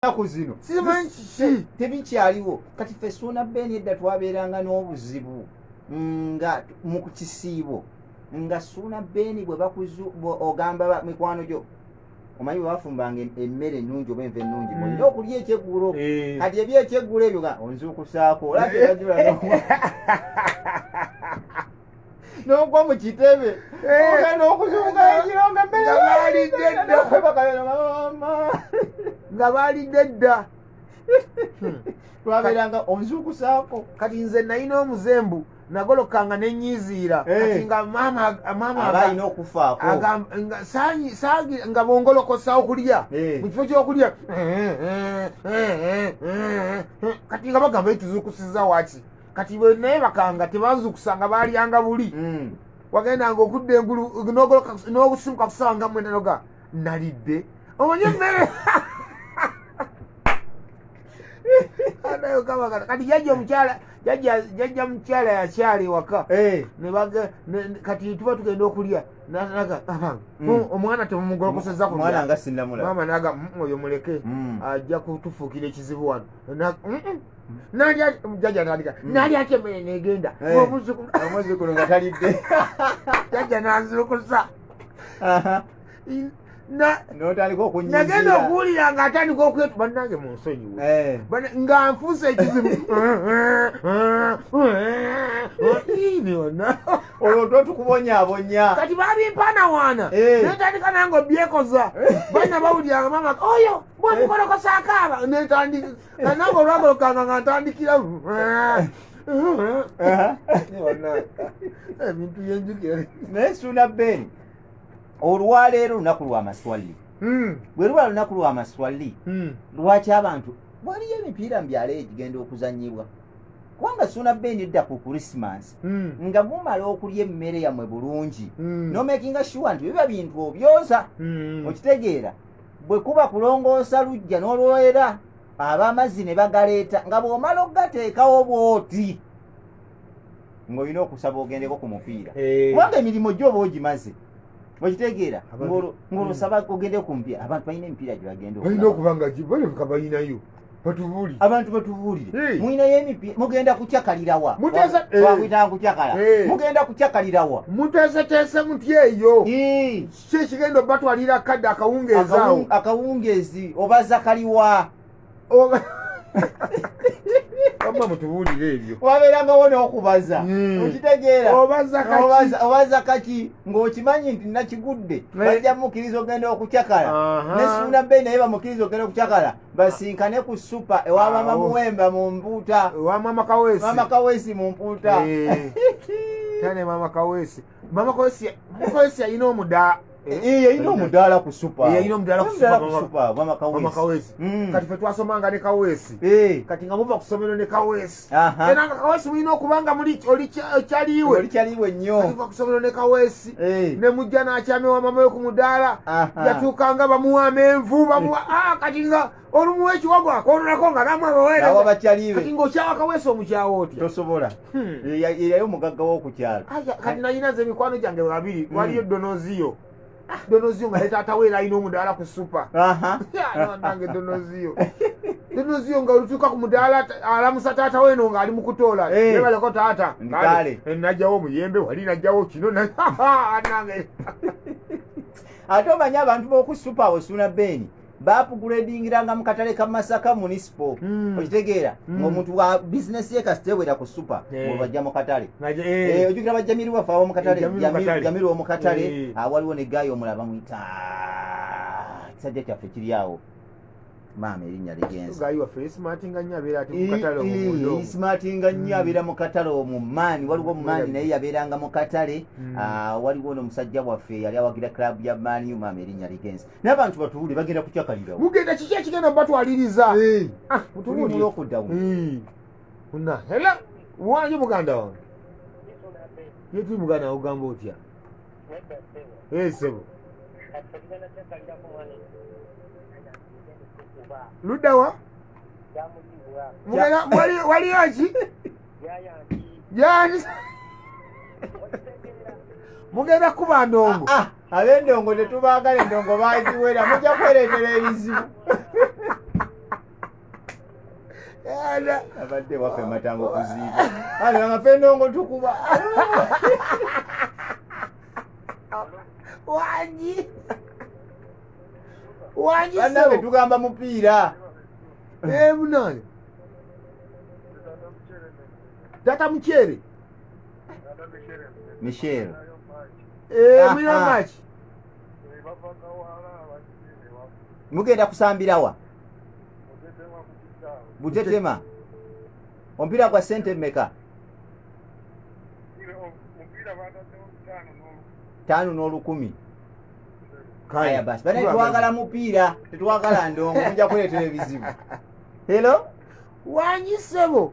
ennaku zino simanyi kiki tebikyaliwo kati fe suuna beeni edda twabeeranga n'obuzibu nga mu kisiibo nga suuna beeni bwe bakuzu ogamba mikwano gyo omanyi webafumbanga emmere ennungi oba enva ennungi mm. olina okulya ekyeggulo eh. kati ebyekyeggula ebyo onzuukusaako olaa tebajula n'ogwa mu kitebe eh. ogenda okuzunga ekiro nga mbeerewaalidde dda nga baalidde dda hmm. twabeeranga onzukusaako kati nze nalina omuzembu nagolokanga nenyiziira eh. kati nga maamaabalina okufaako nga bongolokosa okulya eh. mu kifo kyokulya kati nga bagamba etuzukusiza waki kati naye bakanga tebazukusanga balyanga buli hmm. wagendanga okudda engulu n'okusimuka kusanga mwenda noga nalidde omanyi emmere kati jajja omukyala jajja mukyala yakyala ewaka eh. kati tuba tugenda okulya naga hmm. hmm, omwana temumugolokoseza kumwana sinamula mama naga hmm, oyo muleke ajja kutufuukira ekizibu wano nalyajaja nalika mm. nalyako emmere negenda eh, omuzukulu nga talidde jaja nanzukusa nagenda okuwulira nga atandika okwetu banange mu nsonyiwe eh. nga nfuusa ekizibu olwo to tukubonyabonya kati babimpanawaana eh. netandika nange obyekoza bana bawuliranga mama oyo bwamukolokosa akaaba netandika nga nange olwamulukanga nga ntandikira ebintu yenjukira naye suuna ben olwaleero lunaku lwa maswali hmm. bwe luba lunaku lwa maswali hmm. lwaki abantu waliyo emipiira mu byalo egigenda okuzanyibwa kubanga suuna ben edda ku krisimansi hmm. nga mumala okulya emmere yamwe bulungi nomakinga shuwa nti biba bintu obyoza okitegeera bwe kuba kulongoosa lujja n'olwera ab'amazzi ne bagaleeta nga bw'omala okugateekawo bw'oti ng'olina okusaba ogendeko ku mupiira eh. kubanga emirimu gyo oba ogimaze okitegeera ng'olusaba hmm. ogende ku mupiira abantu balina emipiira gye bagenda balina okuba nga balabika balinayo batubulire abantu batubulire eh. mulinayo emipiira mugenda kukyakalirawa eh. mugenda kukyakalirawa muteeseteese mutya eyo kiki ekigenda obatwalira kadde akawungeezi awo akawungeezi oba zakaliwa wabba mutubuulire ebyo wabeerangawo n'okubaza hmm. okitegeeraobaza kaki ng'okimanyi nti nakigudde bajja mukkiriza ogenda okucakala nesuuna bbeyi naye bamukkiriza ogenda okucakala basinkane ku supa ewamama muwemba mu mpuuta mama kawesi mu mpuuta eh. tane mama kawesi mama kosi kosi ayina omuda eh, eh yayina omudaala ku super eh, yayina omudaala ku super ku super mama kawesi mama kawesi mm. kati fe twasoma nga ne kawesi eh kati nga muva kusomero ne kawesi aha era nga kawesi mwino okubanga muli oli chaliwe oli chaliwe nyo kati fa kusomero ne kawesi eh ne mujja na achame wa mama yo ku mudaala aha yatukanga bamuwa menvu bamuwa ah kati nga olumuwa ekiwago akoononako nga namu abaweerezakati ngaokyawa kaweesa omukyawo otya tosobola hmm. yali omugagga wokukyalo kati nayina nze emikwano gyange babiri hmm. waliyo donoziyo ah, donoziyo nga netaatawo era alina omudaala ku supa nange donoziyo donoziyo nga olutuuka ku mudaala alamusa taata weno nga ali mukutoola eh. ebaleko taata eh, najjawo omuyembe wali najjawo kino nange ate omanyi abantu bokusupa osuna beeni baapuguredingiranga mu katale ka masaka munisipo hmm. okitegeera hmm. ngaomuntu wa bizinesi ye kasitewera ku supa eh. bajja mu katale eh. Eh, ojukira bajja miri wafe awo mukatale jamiri wo mukatale ah, waliwo ne gaayi omula bamwita ah, kisajja kyaffe kiri awo maama erinnya ligenzaismartinga nnyo abeera mu katale omumaani hmm. waliwo omumaani naye yabeeranga mu katale ah, waliwo no musajja waffe yali awagira club ya maniu maama erinnya ligenza n'abantu batuwuli bagenda kucakalirawo mugenda kiki ekigenda mubatwaliriza eh. ah, mutuwuliokuddawo eh. na hela wange muganda wange yetuli muganda ogamba otya eh, sebo luddawa waliyo ki yani mugenda kuba ndongo ah, ah. abendongo tetubaagala endongo bagiwera mujja kwereetera ebizibu abadde wafe matango kuziiba ale bamafe endongo tukuba wangi wangi banabe tugamba mupiira emunani eh, tata mukyere michel Eh, mulina Aha. match mugenda kusambirawa butetema omupiira gwa sente meka taano n'olukumi Kale. aya basi banaye twagala mupiira tetwagala ndongo mujja kuleetera ebizibu helo wanyi sebo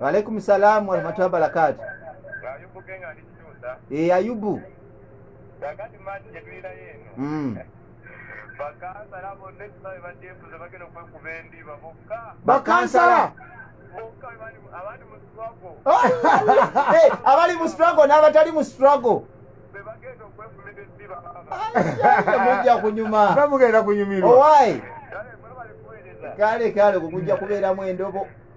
waalaikum salaamu warahmatullahi wabarakaatu e ayubu mm. bakansala abali mu struggle n'abatali mu struggle mujja kunyuma bamugenda kunyumirwa owaayi kale kale kukujja kubeeramu endobo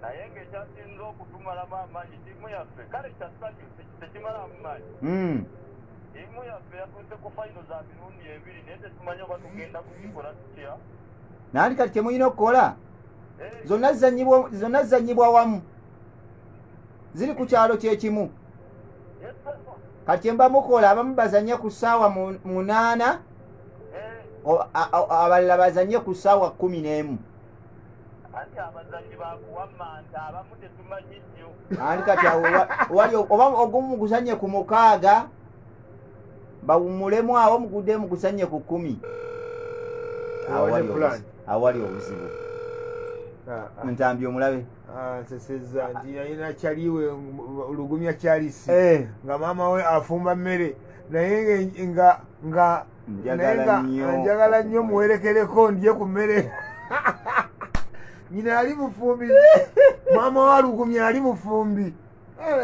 naye ng'ekyasinza okutumalamu amaanyi ttiimu yaffe kale kya ssanyu tekimalamu maanyi hmm. ttiimu yaffe yatuuse ku fayino za mirundi ebiri naye tetumanyi oba tugenda kukikola tutya naali kati kyemulina okukola eh. zonna zizanyibwa wamu ziri ku kyalo kyekimu kati kyemba mukola abamu bazanye ku ssaawa munaana eh. abalala bazanye ku ssaawa kumi n'emu anti abazanyi bakuwamanta abamu tetumanyi nnyo anti kati wali oba ogumu gusanye ku mukaaga bawumulemu awo mugudemu gusanye ku kumi awali obuzibu ah, ah. ntambi omulabe ah, nseseza nti yalina kyaliwe lugumya kyalisi eh. nga maama we afumba mmere naye nga nga njagala nnyo muwerekereko ndye ku mmere nyina ali mufumbi maama walugumya ali mufumbi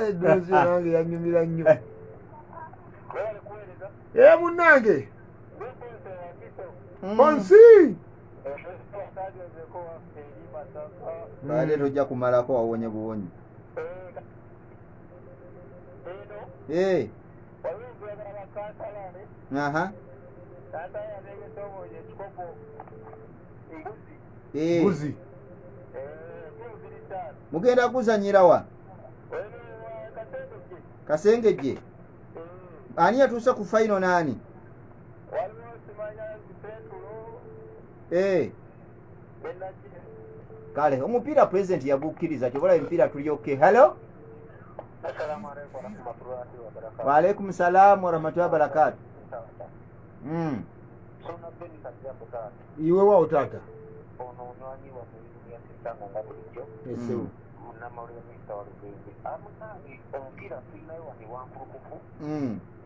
edozi eh, nange yanyumira nnyo e eh, munange hmm. bonsi baale tojja kumalako wawonye buwonyi eh. aha Eh, mbuzi mugenda kuzanyira wa kasengejje ani yatuuse ku fayino naani Eh, kale omupiira pulezidenti yagukkiriza kyobola emipiira tulyokke hallo waalaikum salaamu warahmatullahi wabarakatu hmm. iwe wawo taata hmm. hmm.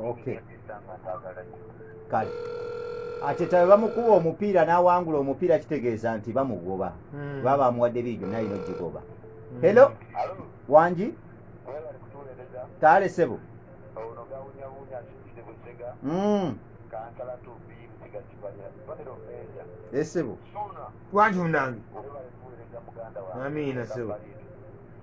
okay kale ate tawe bamukuba omupiira n'awangula omupiira kitegeeza nti bamugoba hmm. baba bamuwadde biijo naye no gigoba hmm. helo wangi taale sebo hmm. esebo eh, wangi munange amiina sebo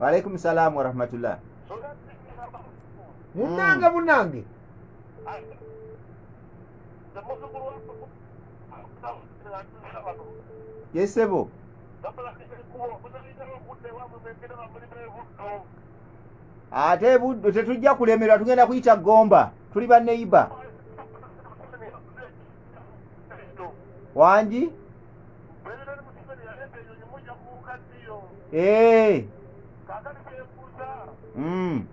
walaikum salaam warahmatullah munange Mm. munange yesebo ate buddo tetujja kulemerwa tugenda kuyita gomba tuli baneiba wangi Eh. Mm.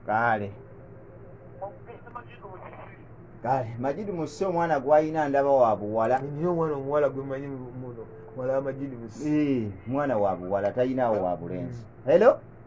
kale kale majidi musi omwana gwalina ndaba wa buwala nina omwana omuwala gwemanyi muno wala majidi musi mwana wa buwala talinawo wa bulenzi mm. hello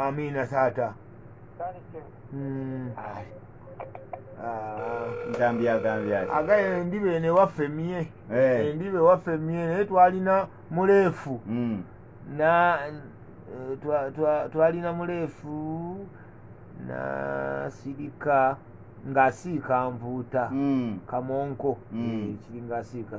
amiina taata hmm. agaye endiba eno ewaffe mye eh. endiba ewaffe mye naye twalina muleefu hmm. na eh, twalina muleefu nasirika ng'asiika nvuuta hmm. kamonko eh, kiri ng'asiika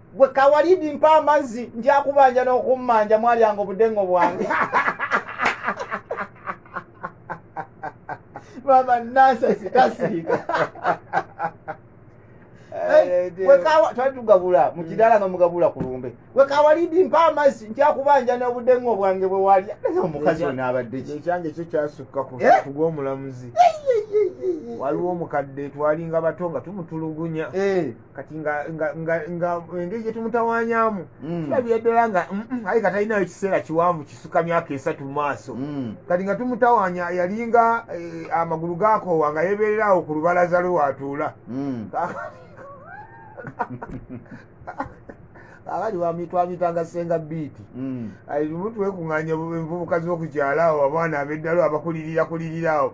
gwe kawalidi mpa amazzi njakubanja n'okummanja mwalyanga obudengo bwange mama nansasi tasiika eh, twali tugabula mu kidaala nga mugabula ku lumbe gwe kawalidi mpa amazzi nkyakubanja n'obudengo bwange bwe walya omukazi we naabadde ki ekyange ekyo kyasukka ku eh? gw'omulamuzi waliwo omukadde twalinga bato nga tumutulugunya eh. kati nga engeri gyetumutawanyamu mm. tulabira ddala nga mm, mm, aye nga talinayo ekiseera kiwanvu kisuka myaka esatu mu maaso kati nga tumutawanya yalinga eh, amagulu gakoowa nga yebeererawo ku lubalaza lwe watuula abali bamitwamitanga senga biiti lumu twekunganya envubuka z'okukyalaawo abaana ab'eddalo abakulirira kulirirawo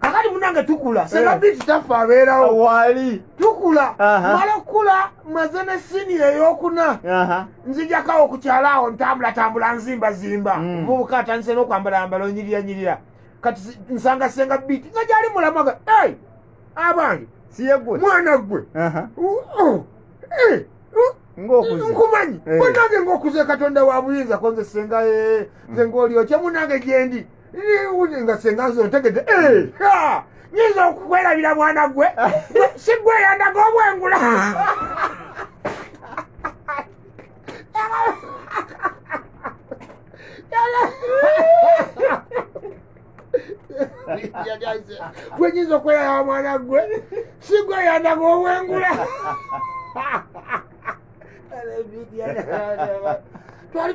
kakati munange tukula sebabiiti eh. taffe abeerawo wali tukula mala okukula maze ne siniya eyokuna nzijakawo okukyala awo ntambulatambula nzimbazimba mm. omuvubuka atandise n'okwambalambala onyiriyanyirira kati nsanga senga biiti nga gyali mulamaga e abange siyegwe mwana gwe oh, eh, nkumanyi eh. munange ngaokuze katonda wa buyinza konze senga nze ngaolyokye munange gyendi niwuli nga senga nze otegedde eh, nyinza okukwerabira mwana gwe sigweyandaga obwengula gwenyinza okweyaya mwana gwe sigweyandaga obwengula twali